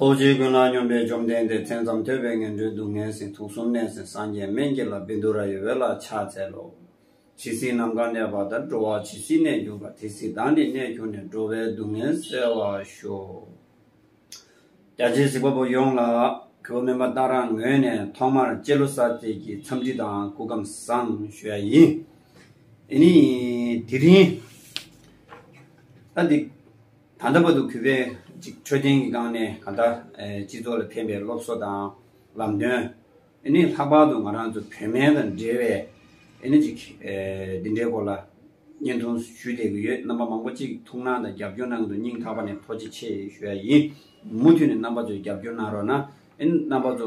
ཐུགས་རྗེ་ཀུན་སྣང་སྙོམས་པའི་བཅོམ་ལྡན་འདས་མཚན་ཙམ་ཐོས་པས་ངན་འགྲོའི་སྡུག་བསྔལ་ཟིན་ཐུགས་གསུམ་གནས་ཟིན་སངས་རྒྱས་སྨན་གྱི་ལྷ་བི་དུ་ར་ཡི་འོད་ལ་ཕྱག་འཚལ་ལོ། ཇི་སྲིད་ནམ་མཁའ་གནས་པ་ལྟར་འགྲོ་བ་ཇི་སྲིད་གནས་གྱུར་པ་དེ་སྲིད་བདག་ནི་གནས་གྱུར་ནས་འགྲོ་བའི་སྡུག་བསྔལ་བསལ་བར་ཤོག། རྒྱ་ཆེའི་གཟིགས་པ་པོ་ཡོངས་ལ་ཁྱེའུ་སྨན་པ་སྟག་ར་ངོས་ནས་ཐོག་མར་སྤྱི་ལོ་གསར་ཚེས་ཀྱི་འཚམས་འདྲི་དང་སྐུ་ཁམས་བཟང་ཞུ་ཡ་ཡིན། དེ་ནི་དེ་རིང། ད་འདི། ད་ལྟ་བར་དུ་གུས་པས་འཕྲོད་བསྟེན་གྱི་སྒང་ནས་གང་ལྟར་སྤྱི་ཚོགས་ལ་ཕན་པའི་སློབ་གསོ་དང་ལམ་སྟོན། ནི་ལྷག་པར་དུ་ང་རང་ཚོ་བོད་སྨན་དང་འབྲེལ་བའི་འདི་འདྲའི་སྐོར་ལ་བརྙན་ཐུང་ཞུས་བསྡད་ཀྱི་ཡོད། རྣམ་པ་མང་པོ་གཅིག་ཐུགས་སྣང་དང་རྒྱབ་སྐྱོར་གནང་འདུག་སྙིང་ཐག་པ་ནས་ཐོག་བརྗེ་ཆེ་ཞུ་ཡ་ཡིན། མུ་མཐུད་ནས་རྣམ་པ་ཚོས་རྒྱབ་སྐྱོར་གནང་རོགས་གནང། རྣམ་པ་ཚོ་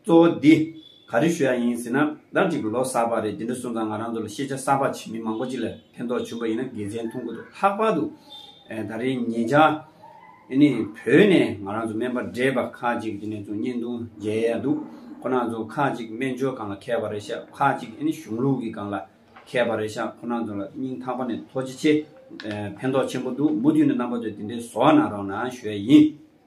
གཙོ་བོ་འདི། ག་རེ་ཞུ་ཡག་ཡིན་ཟེར་ན། ཟླ་གཅིག་གི་ལོ་གསར་པ་རེད་དེ་འདྲ་གསུངས་ཙང་ང་རང་ཚོ་ལ་ཤེས་བྱ་གསར་པ་བྱེད་མི་མང་པོ་ཅིག་ལ་ཕན་ཐོགས་བྱུང་པ་ཡིན་ན་དགེ་མཚན་མཐོང་གི་འདུག་ལྷག་པར་དུ། ད་རེའི་ཉེ་ཆར། ཨེ་ནི། བོད་ནས་ང་རང་ཚོ་སྨན་པ་འདྲེས་པ་ཁག་ཅིག་དེ་ནས་ཚོ་བརྙན་ཐུང་མཇལ་ཡས་འདུག་ཁོ་ནང་ཚོ་ཁག་ཅིག་སྨན་སྦྱོར་སྒང་ལ་མཁས་པ་རེད་ཤག་ཁག་ཅིག་ཨེ་ནི་གཞུང་ལུགས་ཀྱི་སྒང་ལ་མཁས་པ་རེད་ཤག་ཁོ་ནང་ཚོ་ལ་སྙིང་ཐག་པ་ནས་ཐོགས་ཅི་ཆེ། ཕན་ཐོགས་ཆེན་པོ་འདུག་མུ་མཐུད་ནས་རྣམ་པ་ཚོས་དེ་འདྲའི་བཟོ་བ་ན་རོགས་ན་ཞུ་ཡག་ཡིན།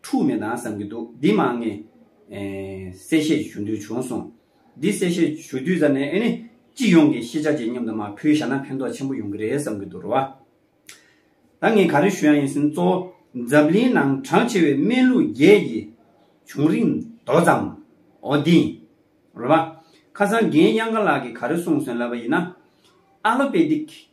འཁྲུག་མེད་དང་བསམ་གྱི་འདུག་འདི་མ་ངས། གསལ་བཤད་ཞུ་འདོད་བྱུང་སོང། འདི་གསལ་བཤད་ཞུ་དུས་ཙམ་ནས་ཨེ་ནི། སྤྱི་ཡོངས་ཀྱི་ཤེས་བྱ་ཅན་མཉམ་དུ་མ་ཕུལ་བཞག་ན་ཕན་ཐོགས་ཆེན་པོ་ཡོང་གི་རེད་བསམ་གྱི་འདུག་རེད་བ། ད་ངས་ག་རེ་ཞུ་ཡང་ཡིན་ཟིན་གཙོ་བོ་འཛམ་གླིང་ནང་གྲངས་ཆེ་བའི་སྨན་ལུགས་བརྒྱད་ཀྱི་བྱུང་རིམ་མདོ་ཙམ་འོ་འདི་ཡིན། རེད་བ། ཁ་སང་རྒན་དབྱངས་དགའ་ལགས་ཀྱིས་ག་རེ་གསུངས་སོན་ལབ་པ་ཡིན་ན། Allopathic།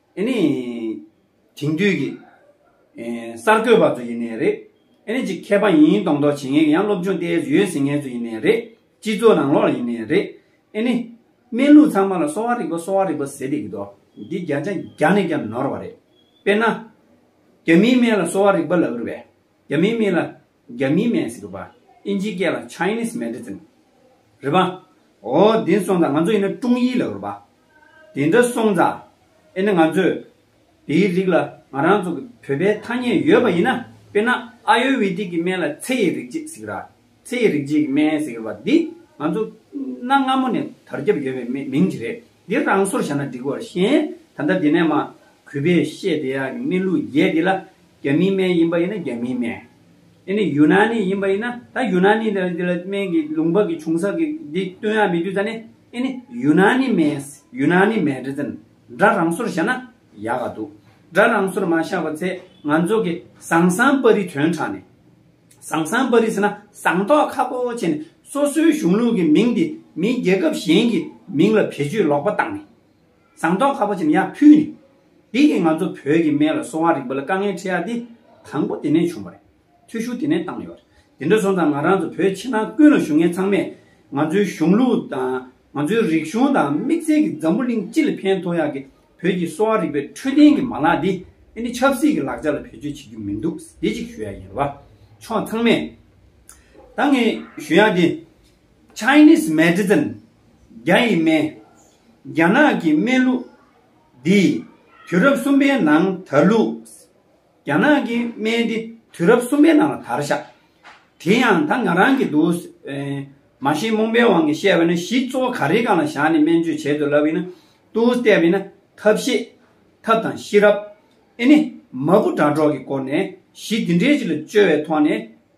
ཨེ་ནི། དེང་དུས་ཀྱི། གསར་འགོད་པ་ཚོ་ཡིན་ནའི་རེད། ཨེ་ནི་ཅི་མཁས་པ་ཡིན་ཡིན་མདོག་མདོག་བྱེད་ངེས་ཀྱི་ཡང་སློབ་སྦྱོང་ལྟས་ཡོད་ཟེར་མཁན་ཚོ་ཡིན་ནའི་རེད། སྤྱི་ཚོགས་ནང་ལོགས་ལ་ཡིན་ནའི་རེད། ཨེ་ནི། སྨན་ལུགས་ཚང་མ་ལ་གསོ་བ་རིག་པ་གསོ་བ་རིག་པ་ཟེར་བསྡད་ཀྱི་མདོག་འདི་བརྒྱ་ཆ་བརྒྱ་ནས་ཀྱང་ནོར་བ་རེད། དཔེར་ན། རྒྱ་མིའི་སྨན་ལ་གསོ་བ་རིག་པ་ལབ་རི་བས། རྒྱ་མིའི་སྨན་ལ། རྒྱ་མིའི་མེན་སི་ཀི་བ། ཨིན་ཇིའི་སྐད་ལ Chinese Medicine། རེད་པ། ཨོ། དེ་སོང་ཙང་ང་ཚོ་ཡིན་ན་ཀྲུང་ཡིའི་ལ་རུ་བ། དེ་འདྲ་སོང་ཙང། ཨེ་ན་ང་ཚོས། དེའི་རིགས་ལ་ང་རང་ཚོ་གི་བོད་པའི་ཐ་སྙད་ཡོད་པ་ཡིན་ན། དཔེར་ན་ཨ་ཡོ་ཝེ་དིག་གི་སྨན་ལ་ཚེ་ཡི་རིག་བྱེད་སི་ཀི་ར། ཚེ་ཡི་རིག་བྱེད་ཀྱི་སྨན་སི་ཀི་ར་བ་འདི། ང་ཚོ། གནའ་སྔ་མོ་ནས་དར་ཁྱབ་ཡོད་པའི་མིང་ཅིག་རེད། འདི་རང་སོར་བཞག་ན་འགྲིག་བར་ཞེན། ད་ལྟ་འདི་ནས་མ། གུས་པས་བཤད་བདེ་ཡག་གི་སྨན་ལུགས་བརྒྱད་འདི་ལ། རྒྱ་མིའི་སྨན་ཡིན་པ་ཡིན་ན་རྒྱ་མིའི་སྨན། དེ་ནས་ཡུ་ན་ནི་ཡིན་པ་ཡིན་ན་ད་ཡུ་ན་ནི་འདི་ལ་སྨན་གྱི་ལུང་པ་གི་བྱུང་ས་གི་འདི་སྟོན་ཡ་མི་དུས་ད་ནི་ཨེ་ནི་ཡུ་ན་ནི་སྨན་ཡུ་ན་ནི་སྨན་རེད་ཙན་སྒྲ་རང་སོར་བཞག་ན་ཡག་ག་འདུག་སྒྲ་རང་སོར་མ་བཞག་པ་ཚེ་ང་ཚོ་གི་ཟང་ཟང་པ་རི་དོན་དྲང་ནི་ཟང་ཟང་པ་རི་ཟེར་ན་ཟང་མདོག་ཁ་པོ་བྱས་ནི་སོ་སོའི་གཞུང་ལུགས་གི་མིང་འདི་མིའི་རྒྱལ་ཁབ་གཞན་གྱི་མིང་ལ་བེད་སྤྱོད་ལོག་པ་བཏང་ནི་ཟངས་མདོག་ཁ་བོ་ཆེ་མྱག་ཕུལ་ནས། འདི་ནི་ང་ཚོ་བོད་ཀྱི་སྨན་ལ་སོང་བ་རིག་པ་ལ་དཀའ་ངལ་འཕྲད་ཡ་དེ། དང་པོ་དེ་ནས་བྱུང་བ་རེད། ཐུགས་ཤུགས་དེ་ནས་བཏང་ཡོད། དེ་འདྲ་སོང་ཙང་ང་རང་ཚོ་བོད་ཕྱི་ནང་ཀུན་ལ་ཞུགས་མཁན་ཚང་མས། ང་ཚོའི་གཞུང་ལུགས་དང། ང་ཚོའི་རིག་གཞུང་དང་དམིགས་བསལ་གྱི་འཛམ་བུ་གླིང་སྤྱི་ལ་ཕན་ཐོགས་ཡ་གི་བོད་ཀྱི་གསོ་བ་རིག་པའི་འཕྲོད་བསྟེན་གྱི་མ་ལག་འདི། འདི་ནི་ཆབ་སྲིད་ཀྱི་ལག་ཆ་ལ་བེད་སྤྱོད་བྱེད་རྒྱུ་མི་འདུག་དེ་གཅིག་ཞུ་ཡ་ཡིན། ལ་ཕྱོགས་ཚང་མས། ད་ངས་ཞུ་ཡ་དེ། Chinese Medicine། རྒྱ་ཡི་སྨན། རྒྱ་ནག་གི་སྨན་གླུ། འདིས་དུས་རབས་གསུམ་པའི་ནང་དར་ལུགས། རྒྱ་ནག་གི་སྨན་འདི་དུས་རབས་གསུམ་པའི་ནང་ལ་དར་ཤག། དེ་ཡང་ད་ང་རང་གི་འདུག། མ་གཞི་རྨོངས་པའི་དབང་གིས་བཤད་པ་ནི་གཞི་གཙོ་བོ་ག་རེའི་སྒང་ལ་བཞག་ནས་སྨན་བཅོས་བྱེད་དུ་ལབ་ཡིན་ན། ཏུའུ་བལྟས་པ་ཡིན་ན་ཐབས་ཤེས། ཐབས་དང་ཤེས་རབ། ཨེ་ནི། མ་བུ་དྲ་གྲོགས་ཀྱི་སྐོར་ནས་གཞི་འདི་འདྲའི་ཅིག་ལ་བཅོལ་བའི་ཐོག་ནས།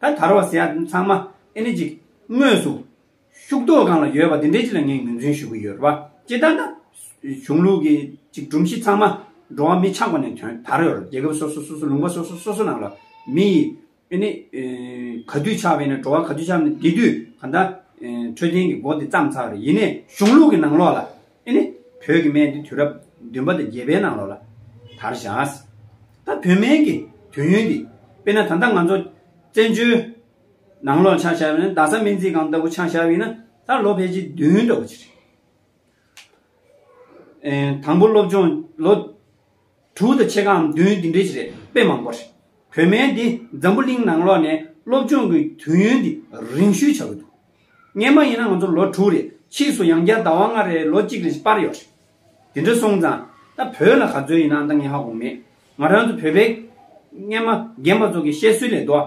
ད་དར་བ་ཟེར་ཡ་ཚང་མ་ཨེ་ནི་ཅིག་དངོས་སུ་ཤུགས་རྡོ་གང་ལ་ཡོད་པ་དེ་འདྲའི་ཅིག་ལ་ངས་ངོས་འཛིན་ཞུ་གི་ཡོད་རེད་བ་ཅི་ལྟར་ན། གཞུང་ལུགས་ཀྱི་ཅིག་སྒྲོམ་གཞི་ཚང་མ་འགྲོ་བ་མི་ཆགས་པ་ནས་དོན་དར་ཡོད་རེད་རྒྱལ་ཁབ་སོ་སོ་སོ་སོ་ལུང་པ་སོ་སོ་སོ་སོ་ནང་ལ་མི་ཡི་ཨེ་ནི་ག་དུས་ཆགས་པའི་ནས་འགྲོ་བ་ག་དུས་ཆགས་པ་ནས་དེ་དུས་ག་ད་འཕྲོད་བསྟེན་གྱི་སྒོ་དེ་བརྩམས་ཚར་རེད་ཡིན་ནས་གཞུང་ལུགས་ཀྱི་ནང་ལོགས་ལ་ཨེ་ནི། བོད་ཀྱི་སྨན་འདི་དུས་རབས་བདུན་པ་དང་བརྒྱད་པའི་ནང་ལོགས་ལ་དར་བཞག། ད་བོད་སྨན་གྱི་དུས་ཡུན་འདི་དཔེར་ན་ད་ལྟ་ང་ཚོ་བཙན་བྱོལ་ནང་ལོགས་ཆ་བཞག་པའི་རྡ་ས་སྨན་རྩིས་ཁང་ལྟ་བུ་ཆ་བཞག་ཡིན་ན་ད་ལོ་ཕལ་ཆེར་བདུན་འགྲོ་གི་རེད། དང་པོ་སློབ་སྦྱོང་ལོ། དྲུག་དང་ཕྱེད་ཀའམ་བདུན་འདི་འདྲའི་ཞིག་རེད་དཔེ་མང་པོ་རེད། བོད་སྨན་འདི་འཛམ་བུ་གླིང་ནང་ལོག་ནས་སློབ་སྦྱོང་གི་དུས་ཡུན་འདི་རིང་ཤུལ་ཆགས་ཀྱི་འདུག་སྔན་མ་ཡིན་ན་ང་ཚོ་ལོ་དྲུག་རེ་ཕྱིས་སུ་ཡང་བསྐྱར་ཟླ་བ་ལྔ་རེ་ལོ་གཅིག་རེ་ཞིག་སྤར་ཡོད་རེད། དེ་འདྲ་སོང་ཙང་ད་བོད་ལ་ག་ཚོད་ཡིན་ནའང་ད་ངན་ཧ་གོ་མེད། ང་རང་ཚོ་བོད་པའི་སྨན་མ་རྒན་པ་ཚོ་གི་བཤད་སྲོལ་ལས་ཟློ་བ་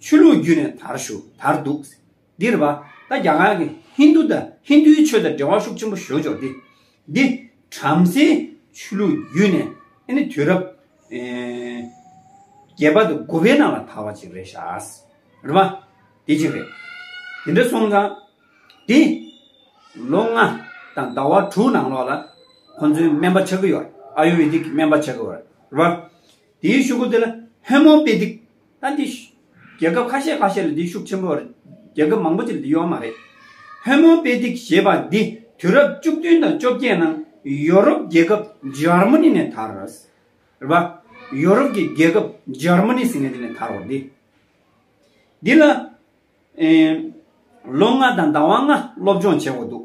ཆོས་ལུགས་བརྒྱུད་ནས་དར་བཞུགས་དར་འདུག་ཟེར། འདིར་བ་ད་རྒྱ་གར་གྱི་ཧིན་དུ་དང་ཧིན་དུའི་ཆོས་དང་འབྲེལ་བ་ཤུགས་ཆེན་པོ་ཞུ་ཆོག་སྟེ། འདི་བྲམ་ཟེའི་ཆོས་ལུགས་བརྒྱུད་ནས་ཨེ་ནི་དུས་རབས་བརྒྱད་པ་དང་དགུ་པའི་ནང་ལ་དར་བ་ཅིག་རེད་ཤག། རེད་མ། དེ་གཅིག་རེད། དེ་འདྲ་སོང་ཙང། འདི། ལོ་ལྔ་དང་ཟླ་བ་དྲུག་ནང་ལོགས་ལ། ཁོང་ཚོའི་སྨན་པ་ཆགས་ཀྱི་ཡོད་རེད། ཨ་ཡུ་ཝེ་དིག་གི་སྨན་པ་ཆགས་ཀྱི་ཡོད་རེད། རེད་མ། དེའི་ཤོག་བུ་དེ་ལ་ཧེ་མོ་པེ་དིག་ད་འདི། རྒྱལ་ཁབ་ཁ་ཤས་ཁ་ཤས་ལ་འདི་ཤུགས་ཆེན་པོ། རྒྱལ་ཁབ་མང་པོ་ཅིག་ལ་འདི་ཡོད་མ་རེད། ཧོན་མོ་པེ་ཏིག་ཞེས་པ་འདི་དུས་རབས་བཅུ་བདུན་དང་བཅོ་བརྒྱད་ནང་ཡོ་རོབ་རྒྱལ་ཁབ་འཇར་མ་ནི་ནས་དར། རེད་པ། ཡོ་རོབ་ཀྱི་རྒྱལ་ཁབ་འཇར་མ་ནི་ཟེར་མཁན་དེ་ནས་དར་བ་འདི། འདི་ལ། ལོ་ལྔ་དང་ཟླ་བ་ལྔ་སློབ་སྦྱོང་བྱས་འོག་འདུག།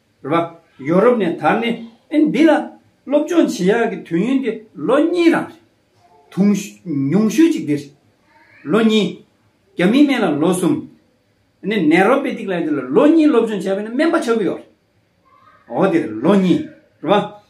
རེད་པ། ཡོ་རོབ་ནས་དར་ནས་ཨིན་འདི་ལ་སློབ་སྦྱོང་བྱེད་ཡག་གི་དུས་ཡུན་དེ་ལོ་གཉིས་རང་རེད། དུང་ཉུང་ཤོས་གཅིག་དེ་རེད། ལོ་གཉིས། རྒྱ་མིའི་སྨན་ལ་ལོ་གསུམ། ནི་ནེ་རོ་པེ་ཏིག་ལ་ཡི་དེ་ལ་ལོ་གཉིས་སློབ་སྦྱོང་བྱས་པས་ནི་སྨན་པ་ཆགས་ཀྱི་ཡོད་རེད། འོ་དེ་རེད་ལོ་གཉིས་རེད་པ།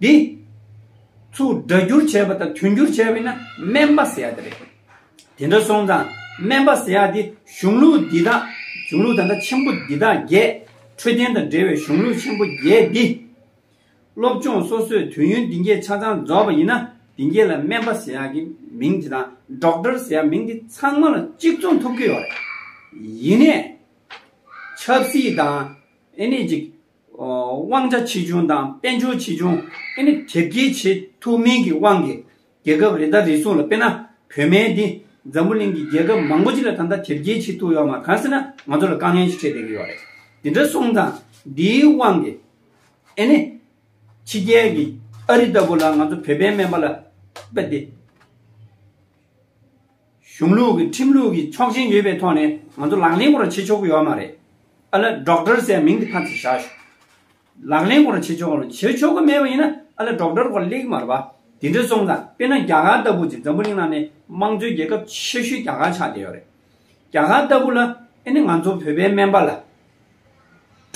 འདི། ཚུར་སྒྲ་བསྒྱུར་བྱས་པ་དང་དོན་བསྒྱུར་བྱས་པས་ན་སྨན་པ་ཟེར་ཡག་དེ་རེད། དེ་འདྲ་སོང་ཙང་སྨན་པ་ཟེར་ཡག་དེ་གཞུང་ལུགས་འདི་དག་གཞུང་ལུགས་ད་ལྟ་ཆེན་པོ་འདི་དག་བརྒྱད། འཕྲོད་བསྟེན་དང་འབྲེལ་བའི་གཞུང་ལུགས་ཆེན་པོ་བརྒྱད་འདི། སློབ་སྦྱོང་སོ་སོས་དུས་ཡུན་འདི་འགྱེད་ཆ་ཚང་རྫོགས་པ་ཡིན་ན་འདི་འགྱེད་ལ་སྨན་པ་ཟེར་ཡག་གི་མིང་དེ་དང Doctor ཟེར་ཡག་མིང་དེ་ཚང་མ་ལ་གཅིག་མཚུངས་ཐུབ་ཀྱི་ཡོད་རེད། ཡིན་ནས། ཆབ་སྲིད་དང། ཨེ་ནས་ཅིག། དབང་ཆ་ཆེ་ཆུང་དང་དཔལ་འབྱོར་ཆེ་ཆུང་ཨེ་ནི་དེབ་སྐྱེལ་བྱེད་ཐུབ་མིན་གྱི་དབང་གིས་རྒྱལ་ཁབ་རེ་དང་རེ་ཟུང་ལ་དཔེར་ན་བོད་མའི་འདི་འཛམ་བུ་གླིང་གི་རྒྱལ་ཁབ་མང་པོ་ཅིག་ལ་ད་ལྟ་དེབ་སྐྱེལ་བྱེད་ཐུབ་ཡོད་མ་གང་ཟེར་ན་ང་ཚོ་ལ་དཀའ་ངལ་ཞིག་འཕྲད་བསྡད་ཀྱི་ཡོད་རེད། འདི་འདྲ་སོང་ཙང་འདིའི་དབང་གིས་ཨེ་ནི་ཕྱི་རྒྱལ་གྱི་ཨ་རི་ལྟ་བུ་ལ་ང་ཚོ་བོད་པའི་སྨན་པ་ལ་དཔེ་དེབ། གཞུང་ལུགས་ཀྱི་ཁྲིམས་ལུགས་ཀྱི་ཆོག་མཆན་ཡོད་པའི་ཐོག་ནས་ང་ཚོ་ལག་ལེན་སྐོར་བྱེད་ཆོག་གི་ཡོད་མ་རེད། ཨ་ལེ Doctor ཟེར་མིང་དེ་ཁ་ཚེ་བཞག་ཞོག། ལག་ལེན་སྐོར་བྱེད་ཆོག་བྱེད་ཆོག་གི་མེད་པ་ཡིན་ན་ཨ་ལེ Doctor སྐོར་གླེགས་མར་བ་དེ་འདྲ་སོང་དང་དཔེར་ན་རྒྱ་གར་ལྟ་བུ་ཅིག་འཛམ་བུ་གླིང་ནང་ནས་དམངས་གཙོའི་རྒྱལ་ཁབ་ཆེ་ཤོས་རྒྱ་གར་ཆགས་བསྡད་ཡོད་རེད། རྒྱ་གར་ལྟ་བུ་ལ་ཨེ་ནི་ང་ཚོ་བོད་པའི་སྨན་པ་ལ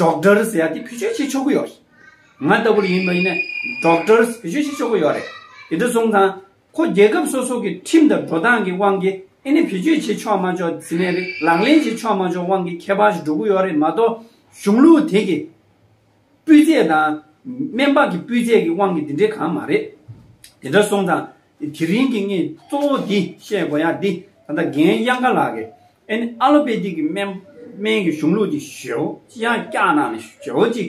Doctor ཟེར་ཡ་དེ་བེད་སྤྱོད་བྱེད་ཆོག་གི་ཡོད་རེད། ང་ལྟ་བུ་ལ་ཡིན་པ་ཡིན་ན Doctor བེད་སྤྱོད་བྱེད་ཆོག་གི་ཡོད་རེད། དེ་འདྲ་སོང་དང་ཁོ་རྒྱལ་ཁབ་སོ་སོ་གི་ཁྲིམས་དང་འགྲོ་སྟངས་ཀྱི་དབང་གིས་ཨེ་ནི་བེད་སྤྱོད་བྱེད་ཆོག་མ་ཆོག་དེ་ནས་རེད་ལག་ལེན་བྱེད་ཆོག་མ་ཆོག་དབང་གིས་ཁྱད་པར་ཞིག་འགྲོ་གི་ཡོད་རེད་མ་གཏོགས་གཞུང་ལུགས་དེ་གི་སྤུས་ཚད་དང། སྨན་པ་གི་སྤུས་ཚད་ཀྱི་དབང་གིས་དེ་འདྲའི་གང་མ་རེད། དེ་འདྲ་སོང་ཙང་དེ་རིང་གི་ངས་གཙོ་བོ་འདི་བཤད་དགོས་ཡག་འདི་ད་ལྟ་རྒན་དབྱངས་དགའ་ལགས་ཀྱི་ཨེ་ནི་ཨ་ལོ་པེ་ཏིག་གི་སྨན་སྨན་གྱི་གཞུང་ལུགས་ཀྱི་ཞེ་བོ་ཅི་ཡང་བསྐྱར་གནང་ནས་ཞེ་བོ་གཅིག་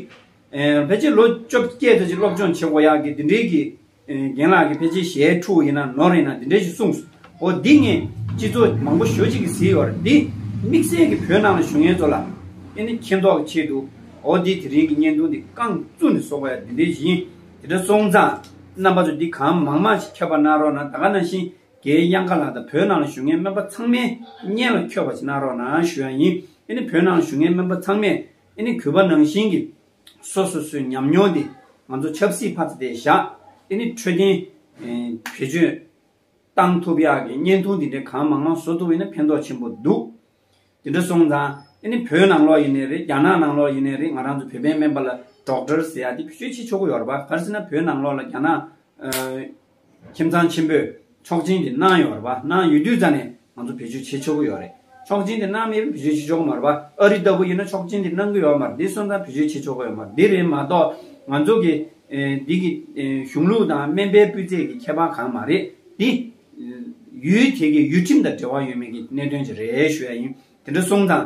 ཕལ་ཆེར་ལོ་བཅོ་བརྒྱད་ལྟ་ཅི་སློབ་སྦྱོང་བྱེད་དགོས་ཡག་གི་དེ་འདྲའི་གི་རྒན་ལགས་ཀྱི་ཕལ་ཆེར་ཞལ་ཕྲུག་ཡིན་ན་ནོར་ཡིན་ན་དེ་འདྲས་ཞིག་གསུངས་སོང་འོ་འདི་ངས་སྤྱི་ཚོགས་མང་པོ་ཞོ་གཅིག་གིས་བཟི་བར་འདི་དམིགས་བསལ་གྱི་བོད་ནང་ལ་བཞུགས་ངན་ཚོ་ལ་ཨེ་ནི་མཁྱེན་རྟོགས་ཀྱི་ཆེད་དུ་འོ་འདི་དེ་རིང་གི་བརྙན་ཐུང་འདི་རྐང་བཙུགས་ནས་བཟོ་བ་ཡ་འདི་འདྲས་ཞིག་ཡིན་དེ་འདྲ་སོང་ཙང་རྣམ་པ་ཚོ་འདི་གང་མང་མང་ཞིག་ཁྱབ་པ་གནང་རོགས་གནང་ད་ག་ནང་བཞིན་རྒྱའི་དབྱངས་དཀར་ལགས་དང་བོད་ནང་ལ་བཞུགས་ངན་སྨན་པ་ཚང་མའི་བརྙན་ལ་འཁྱོལ་བ་ཞིག་གནང་རོགས་གནང་ཞུ་ཡ་ཡིན་ཨེ་ནི་བོད་ནང་ལ་བཞུགས་ངན་སྨན་པ་ཚང་མས་ཨེ་ནི་གུས་པ་ནང་བཞིན་གྱི་སོ་སོ་སོའི་ཉམས་མྱོང་དེ་ང་ཚོ་ཆབ་སྲིད་བྷ་ཚ་དེ་བཞག་དེ་ནི་འཕྲོད་བསྟེན། བེད་སྤྱོད། གཏང་ཐུབ་ཡག་གི་བརྙན་ཐུང་དེ་འདྲའི་གང་མང་མང་བཟོ་ཐུབ་ཡོད་ན་ཕན་ཐོག་ཆེན་པོ་འདུག་དེ་འདྲ་སོང་ཙང་དེ་ནི་བོད་ནང་ལོགས་ཡིན་ནའི་རེད་རྒྱ་ནག་ནང་ལོགས་ཡིན་ནའི་རེད་ང་རང་ཚོ་བོད་པའི་སྨན་པ་ལ་སྒྲོག་འགྲེལ་ཟེར་ཡག་དེ་བེད་སྤྱོད་བྱེད་ཆོག་གི་ཡོད་རེད་པ་ག་རེ་ཟེར་ན་བོད་ནང་ལོགས་ལ་རྒྱ་ནག། ཁྱིམ་ཚང་ཆེན་པོས་ཆོག་མཆན་དེ་གནང་ཡོད་པ་རེད་གནང་ཡོད་དུས་རྩ་ནས་ང་ཚོ་བེད་སྤྱོད་བྱེད་ཆོག་གི་ཡོད་རེད་ཆོག་མཆན་དེ་གནང་མེད་པའི་བེད་སྤྱོད་བྱེད་ཆོག་གི་མ་རེད་པ་ཨ་རི་ལྟ་བུ་ཡིན་ན་ཆོག་མཆན་དེ་གནང་གི་ཡོད་མ་རེད་འདི་སོང་ཙང་བེད་སྤྱོད་བྱེད་ཆོག་གི་ཡོད་མ་རེད་འདི་རེད་མ་གཏོགས་ང་ཚོ་གི་འདི་གི་གཞུང་ལུགས་དང་སྨན་པའི་སྤུས་ཚད་ཀྱི་ཁྱད་པར་གང་མ་རེད་འདི། ཡུལ་དེ་གི་ཡུལ་ཁྲིམས་དང་འབྲེལ་བ་ཡོད་མེད་ཀྱི་གནད་དོན་ཅིག་རེད་ཞུ་ཡ་ཡིན་དེ་འདྲ་སོང་ཙང